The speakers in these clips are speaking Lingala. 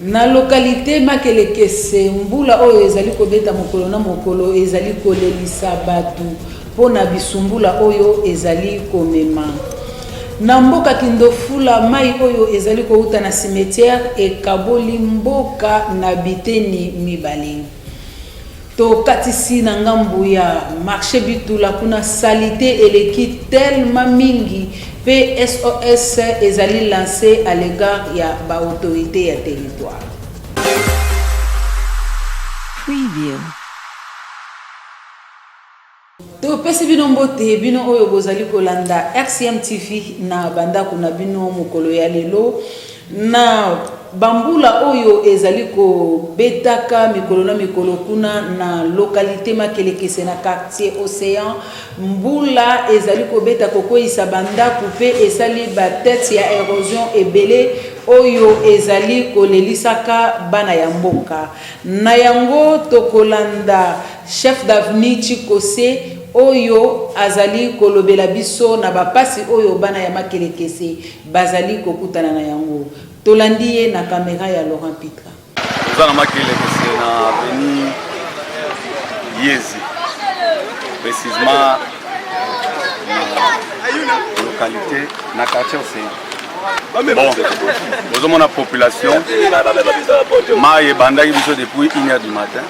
Na localite Makelekese, mbula oyo ezali kobeta mokolo na mokolo ezali kolelisa bato mpo na bisumbula oyo ezali komema. Na mboka Kindofula, mai oyo ezali kouta na cimetière ekaboli mboka na biteni mibale. Tokatisi na ngambu ya marche Bitula kuna salite eleki tellement mingi pe SOS ezali lance à l'egard ya ba autorites ya territoire. Preview. Topesi bino mbote bino oyo bozali kolanda RCM TV na bandako na bino mokolo ya lelo na bambula oyo ezali kobetaka mikolo na mikolo kuna na lokalite makelekese na quartier océan mbula ezali kobeta kokweyisa bandako mpe esali batete ya erosion ebele oyo ezali kolelisaka bana ya mboka na yango tokolanda Chef d'avenue Tshikose oyo azali kolobela biso na ba pasi oyo bana ya Makelekese bazali kokutana na yango. Tolandi ye na camera ya Laurent Pitra. Toza na Makelekese na avenue Yezi, precisement na localité na quartier Ocean. Bon, bozomona population mayi ebandaki biso depuis 1 heure du matin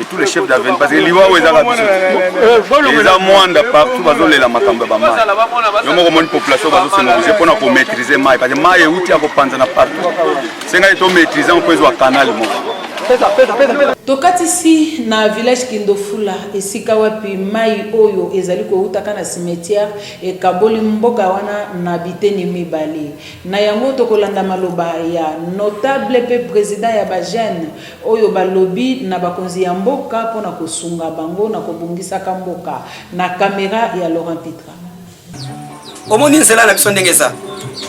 et tous les chefs d'avenue parce que liwa oyo ezaka biso eh, eza mwanda partout bazolela makambo ya bamai yo moko omoni population bazosenobuse mpona komaîtrise mai parce que mai euti ya kopanzana partout sengai to maîtrise yango mpo ezwa canal moko tokatisi na village kindofula esika wapi mai oyo ezali koutaka na cimetière ekaboli mboka wana na biteni mibale na yango tokolanda maloba ya notable mpe president ya bajeune oyo balobi na bakonzi ya mboka mpo na kosunga bango na kobongisaka mboka na camera ya Laurent Pitra. Omoni nzela na biso ndenge eza.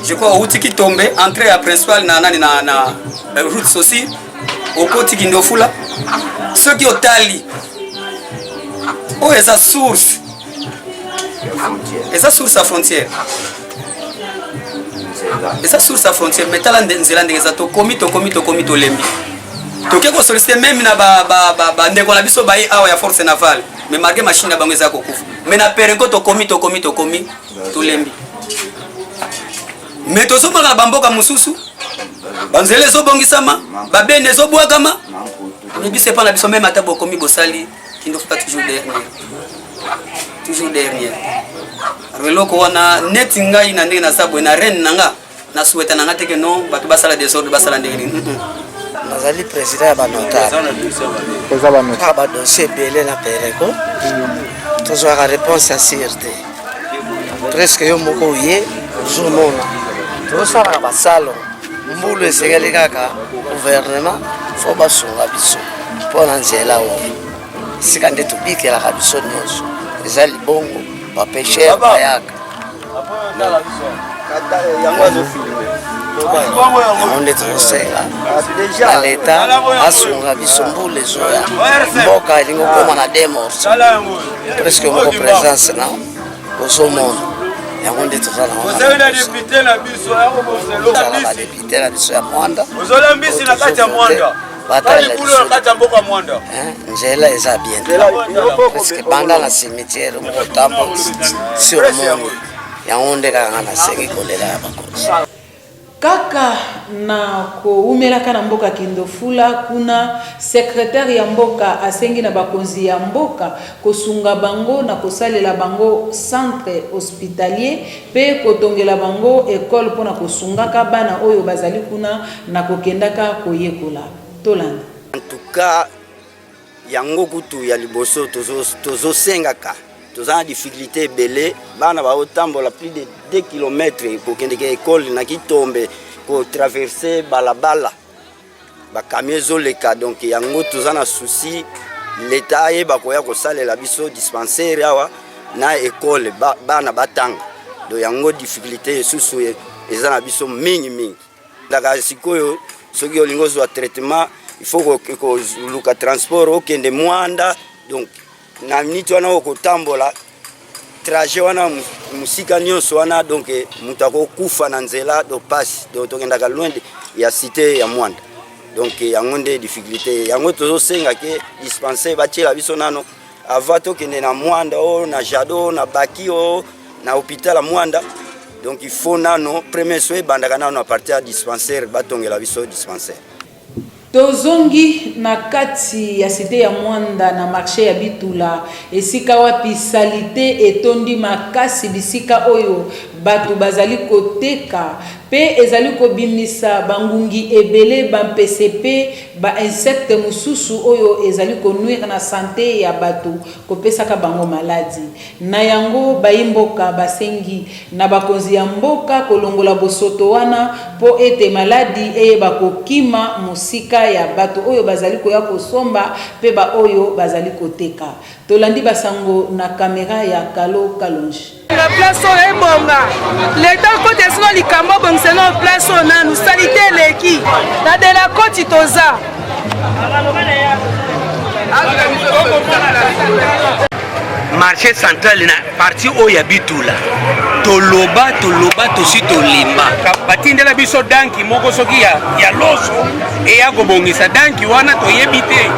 Je crois outi ki tombe entrée ya principal na nani na na euh, route sosi okoti kindofula soki otali oyo eza source eza source ya frontière eza source ya frontière mais tala nzela ndenge eza tokomi tokomi tokomi tolembi toke kosolicite meme na bandeko na biso baye awa ya force navale mais malgré machine na bango eza kokufa mais na perenko tokomi tokomi tokomi tolembi mais tozomaka na bamboka mosusu banzela ezobongisama babene ezobwakama mibise mpo na biso meme ata bokomi bosali kindofuta toujours dernier toujours dernier alors eloko wana neti ngai na ndenge naza boye na reine na nga na souhaita na nga te ke non bato basala desordre basala ndenge nini nazali président ya banotareeza badossier ah, ebele na pereko tozwaka réponse ya sire te Presque yo moko oye ozomona tosalaka basalo mbulu esengeli kaka gouvernement fo basunga biso mpo na nzela oyo esika nde tobikelaka biso nyonso eza libongo bapeshere bayaka yango nde tozosenga na leta asunga biso mbula ezoya mboka elingi okoma na demors presque moko presence na ozomona yango nde toza na wana na depute na biso ya mwanda ozola mbisi na kati ya mwanda nzela eza bien parceke banda na cimetière mokotambo sur monde yango nde kaka nga nasengi kolela ya bakonzi Kaka na kowumelaka na mboka Kindofula, kuna secretaire ya mboka asengi na bakonzi ya mboka kosunga bango na kosalela bango centre hospitalier mpe kotongela bango ecole mpo na kosungaka bana oyo bazali kuna na kokendaka koyekola. Tolanda. En tout cas. yango kutu ya liboso tozosengaka toza na difficulté ebele bana baotambola plus de 2 km kokendeke ekole na kitombe kotraverse balabala bakamio ezoleka donc yango toza na souci leta ayeba koya kosalela biso dispensaire awa na ekole bana batanga do yango difficulté esusu eza na biso mingi mingi ndaka sikoyo soki olingi ozwa traitement il faut koluka transport okende mwanda donc na miniti wana okotambola trajet wana mosika nyonso wana donc eh, moto akokufa na nzela do pasi donc tokendaka loin ya cité ya mwanda donc eh, yango nde difficulté yango tozosenga ke dispensaire batiela biso nano Avant tokende na Mwanda o oh, na Jado oh, na Baki o oh, na hôpital ya Mwanda donc il faut nano premier soin ebandaka nano na partir ya dispensaire batongela biso dispensaire. Tozongi na kati ya site ya Mwanda na marché ya Bitula esika wapi salite etondi makasi bisika oyo bato bazali koteka Pe ezali kobimisa bangungi ebele, bampese pe ba insectes mosusu oyo ezali ko nuire na sante ya bato, kopesaka bango maladi. Na yango, baimboka basengi na bakonzi ya mboka kolongola bosoto wana po ete maladi eyeba kokima mosika ya bato oyo bazali koya kosomba pe baoyo bazali koteka. Tolandi basango na camera ya Kalo Kalonji. na place oyo ebonga leta koti esino likambo abongisa na place oyo nanu salite eleki na de la koti toza marché central na parti oyo ya bitula toloba toloba tosi tolemba batindela biso danki moko soki ya, ya loso eya kobongisa danki wana toyebi te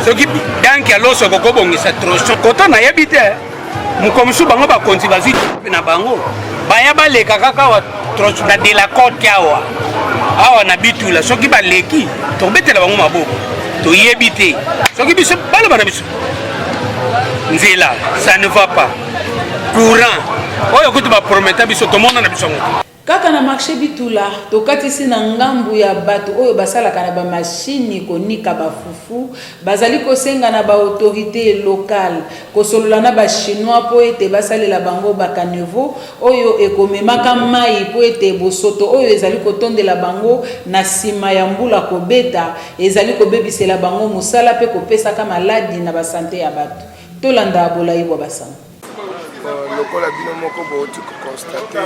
soki danki ya loso ekokobongisa troso koto nayebi te mokolo mosusu bango bakonzi bazwi na bango baya baleka kaka awa na delacote awa awa na bitula soki baleki tokobetela bango maboko toyebi te soki biso baloba na biso nzela ça ne va pas courant oyo kutu baprometa biso tomona na biso yango Kaka na marche Bitula, tokatisi na ngambu ya bato oyo basalaka na ba mashini konika ba fufu, bazali kosenga na ba autorites locales kosolola na ba chinois mpo ete basalela bango ba caniveaux oyo ekomemaka mayi mpo ete bosoto oyo ezali kotondela bango na sima ya mbula kobeta ezali kobebisela bango mosala mpe kopesaka maladi na ba sante ya bato. Tolanda bolayi bwa ba sango. lokola bino moko bouti koconstate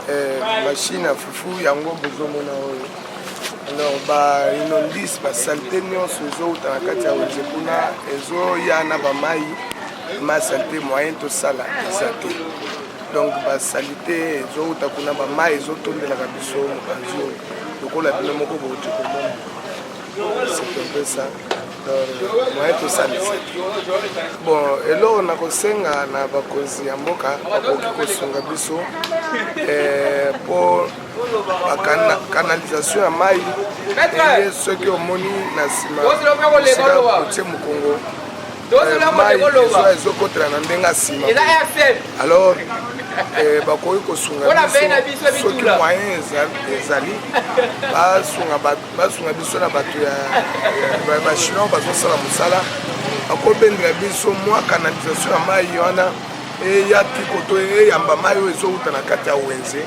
eh, mashine ya fufu yango bozomona oyo alors bainondise basalite nyonso ezowuta na kati ya wenze kuna ezoya na bamai masalite moyen tosala eza te donc basalite ezowuta kuna bamai ezotondelaka biso mopanzi oyo lokola bino moko bouti komona c'est un peu ça moyen tosalisa bon eloko na kosenga na bakonzi ya mboka bakoki kosunga biso eh, mpo bakanalisation ya mai eye soki omoni na nsima esika kotie mokongo eh, mai ezokotela na ndenge ya nsima alors Eh, bakoki kosunga biso soki moyen ezali basunga bato basunga biso na bato ya bachinois bazosala mosala bakobendela biso mwa canalisation ya mai wana eya tikoto eyamba mai oyo ezowuta na kati ya wenze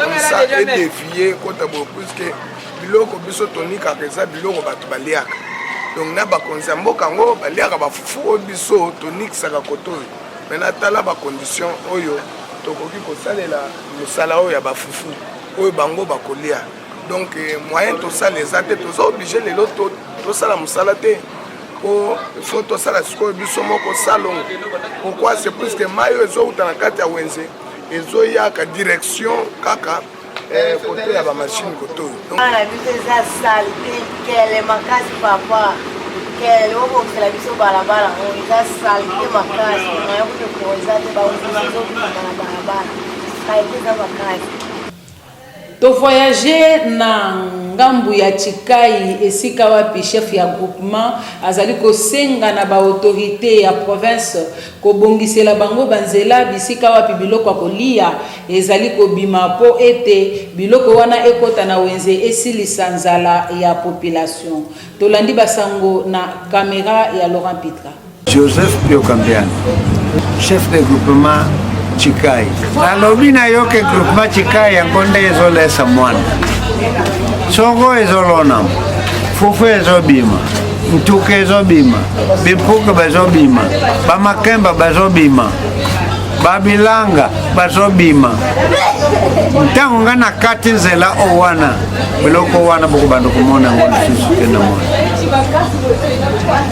komisa edevie kota boye puiske biloko biso tonikaka eza biloko bato baliaka donc na bakonzi ya mboka yango baliaka bafufu oyo biso tonikisaka koto oyo me natala bacondition oyo tokoki kosalela mosala oyo ya bafufu oyo bango bakolia donc eh, moyen tosala eza te toza oblige lelo tosala mosala te po fo tosala sikoyo biso moko salongo pourquoi c'est plus que mai oyo ezowuta na kati ya wenze ezoyaka direction kaka eh, kote ya bamashine kote oyo bana biso eza sale te kele makasi papa kele obokisela biso balabala oyo oh, eza sale te makasi nayokutokoeza te baozizokuta na balabala kaye te eza makasi To voyager na ngambu ya Tshikai esika wapi chef ya groupement azali kosenga na ba autorites ya province kobongisela bango ba nzela bisika wapi biloko ya koliya ezali kobima mpo ete biloko wana ekota na wenze esilisa nzala ya population. Tolandi ba sango na camera ya Laurent Pitra. Joseph Pio Kambiani, chef de groupement Chikai. Nalobi na yo ke groupement Chikai yango nde ezolesa mwana. Songo ezolonama, fufu ezobima, ntuka ezobima, bimpuka bazobima, bamakemba bazobima. babilanga bazobima ntango ngai na kati nzela o wana eloko wana bokobanda komona yango lisusu te na mwana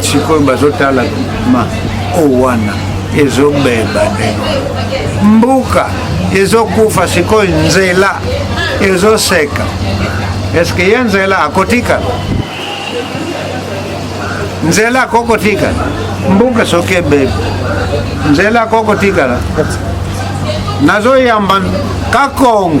sikoyo bazotala ma o oh, wana ezobeba ndenge mbuka ezokufa sikoyo nzela ezoseka eske ye nzela akotikala nzela akokotikala mbuka soki ebebi nzela akokotikala nazoyamba kakongo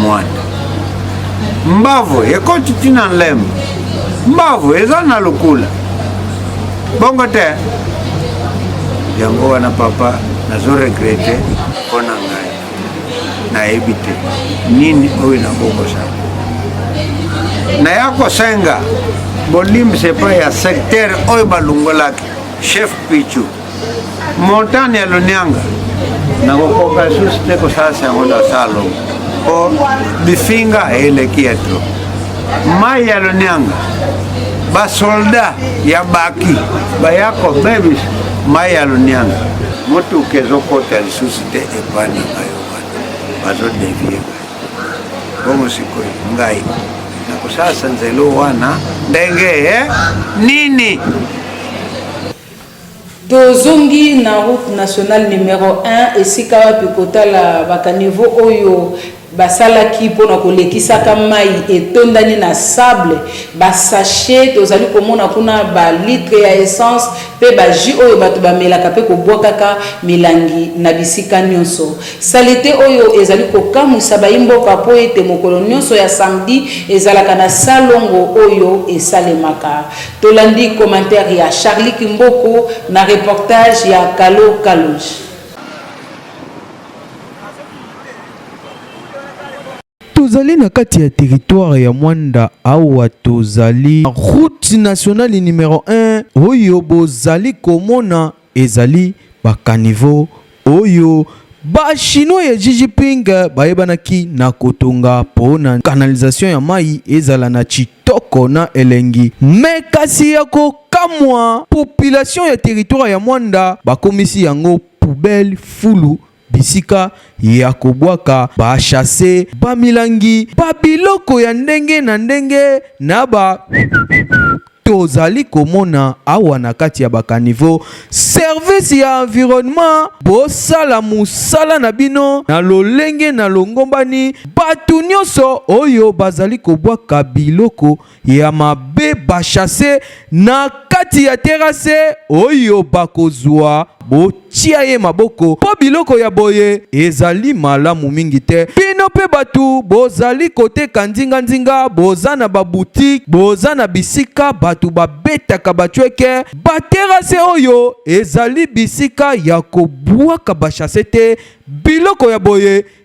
mwanda mbavu ekoti ntina nlembo mbavu eza na lokula bongo te yango wana papa nazo regrete mpo na ngai nayebi te nini oyo nakokosa naya kosenga bolimbisa epai ya secteur oyo balongolaki chef pichu Montagne ya Lonianga nakokoka lisusu te kosalisa yango na salo mpo bifinga eleki ya tro mai ya Lonianga basolda ya baki baya kobebisa mai ya Lonianga motuka ezokota lisusu te epai na bayo wana bazodevie bongo sikoyo ngai nakosalisa nzelo wana ndenge eh? nini Tozongi na route nationale numero un esika wapi kotala ba caniveaux oyo basalaki pona kolekisaka mayi etondani na sable, ba sachets tozali komona kuna, ba litres ya essence pe ba jus oyo batu bamelaka pe kobwakaka milangi na bisika nionso. Salite oyo ezali kokamwisa bayi mboka po ete mokolo nionso ya samedi ezalaka na salongo oyo esalemaka. Tolandi commentaire ya Charly Kimboko na reportage ya Kalo Kalonji. Tozali na kati ya territoire ya Mwanda awa tozali route nationale numero 1 oyo bozali komona Ezali ba caniveaux oyo ba chinois ya Xi Jinping bayebanaki na kotonga po na canalisation ya mayi ezala na tshitoko na elengi mais kasi ya ko kamwa population ya territoire ya Moanda bakomisi yango poubelle, fulu, bisika ya kobwaka ba chasse ba milangi ba biloko ya ndenge na ndenge na ba tozali komona awa na kati ya bakanivo service ya environnement bosala mosala na bino na lolenge na longombani bato nyonso oyo bazali kobwaka biloko ya mabe bashase na kati ya terase oyo bakozwa botia ye maboko mpo biloko ya boye ezali malamu mingi te. Bino mpe bato bozali koteka nzinganzinga, boza na babutike, boza na bisika bato babetaka bacweke. Baterase oyo ezali bisika ya kobwaka bashase te, biloko ya boye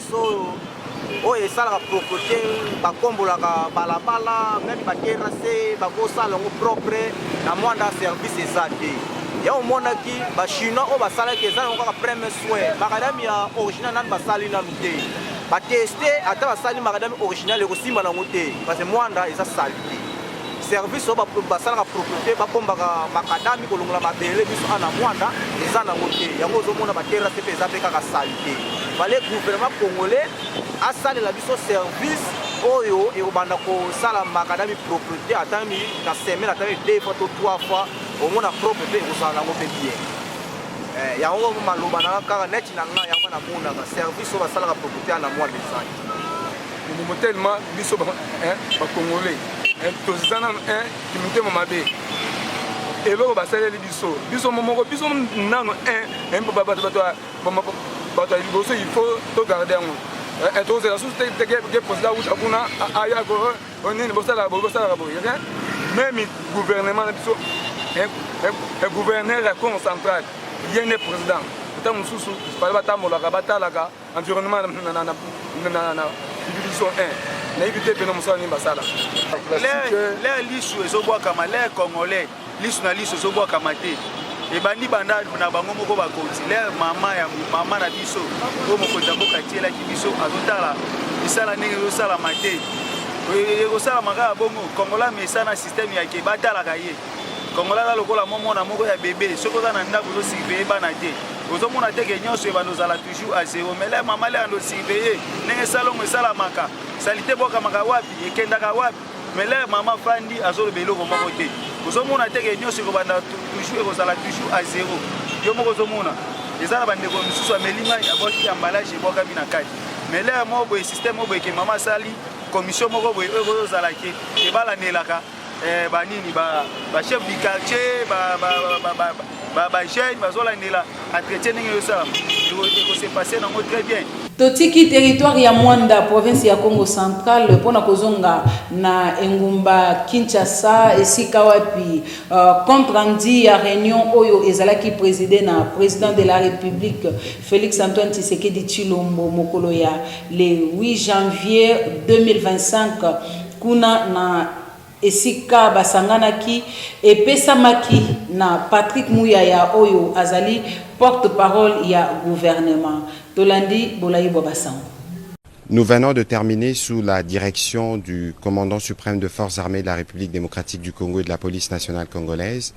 so oyo esalaka propreté bakombolaka balabala meme baterase bakosala yango propre na mwanda service eza te ya omonaki bachinois oyo basalaki eza yango kaka premier soin makadami ya original nani basali nanu te bateste ata basali makadami original ekosimba nango te parce mwanda eza salite service oyo basalaka propriété babombaka makadami kolongola mabele biso ana mwanda eza nango te yango ozomona baterrasse mpe eza mpe kaka salite fale gouvernement congolais asalela biso service oyo ekobanda kosala makadami propriété ata na semaine ata deux fois to trois fois omona propre mpe ekozala nango mpe bien eh, yango maloba nanga kaka neti na ngai yango namonaka service oyo basalaka propriété ana mwanda ezali Mobobo tellement biso ba hein ba congolais hein toza nanu hein kimitema mabe eloko basaleli biso biso momoko biso nanu hein hein bato bato bato ya liboso il faut to garder yango eh, eh, tozela susu teke posela wuta kuna aya ko oh, nini bosalaka boye bosalaka boye rien même gouvernement na biso gouverneur ya congo central ye nde président ntango mosusu bale batambolaka batalaka environnement na na na na na division 1 nayebi te pena mosala nini basala lere lisu ezobwakama lere congolais lisu na lisu ezobwakama te ebandi banda na bango moko bakonzi lere mama ya mama na biso oyo mokonzi ya mboka atielaki biso azotala misala ndenge ezosalama te ekosalama kaka bongo kongola mesana systeme yake batalaka ye Congolais aza lokola mwa mwana moko ya bebe, soki oza na ndako ozo surveiller bana te, ozomona te ke nyonso ebanda ozala toujours à zero. Mais là mama le ando surveiller ndenge salongo esalamaka, salite bwakamaka wapi, ekendaka wapi. Mais là mama fandi azoloba eloko moko te, ozomona te ke nyonso ekobanda toujours ekozala toujours à zero. Yo moko ozomona eza na bandeko mosusu ameli mai abwaki emballage ebwakami na kati. Mais là moko boye système moko boye ke mama asali commission moko boye oyo ekozala ke ebalanelaka eh, ba nini ba, ba chef du quartier ba, ba, ba, ba, ba, ba jeune bazolandela entretien ndenge ezosalama ekose passe nango très bien totiki territoire ya mwanda province ya congo central mpo na kozonga na engumba kinshasa esika wapi uh, compte rendu ya réunion oyo ezalaki préside na président de la république Felix Antoine Tshisekedi Tshilombo mokolo ya le 8 janvier 2025 kuna na esika basanganaki epesamaki na Patrick Muyaya oyo azali porte-parole ya gouvernement. Tolandi bolayi bwa basango. Nous venons de terminer sous la direction du Commandant suprême de Forces armées de la République démocratique du Congo et de la Police nationale congolaise,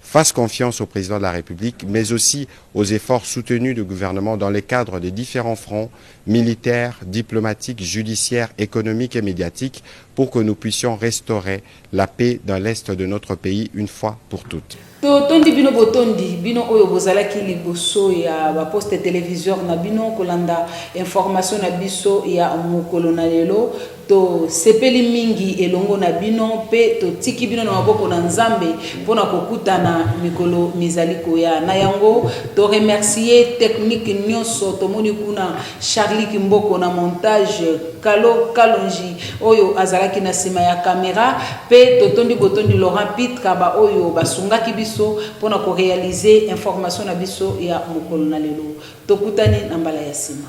fasse confiance au President de la Republique mais aussi aux efforts soutenus du gouvernement dans les cadres des differents fronts, militaire, diplomatique, judiciaire, économique et médiatique, pour que nous puissions restaurer la paix dans l'Est de notre pays une fois pour toutes. totondi bino botondi bino oyo bozalaki liboso ya baposte televiseur na bino kolanda information na biso ya mokolo na lelo To sepeli mingi elongo na bino mpe to tiki bino na maboko na Nzambe mpo na ko kutana mikolo mizali koya. Na yango to remercier technique nionso tomoni kuna, Charly Kimboko na montage, Kalo Kalonji oyo azalaki na sima ya camera mpe to tondi botondi Laurent Pitka ba oyo ba sungaki biso mpo na ko realiser information na biso ya mokolo na lelo. To kutani na mbala ya sima.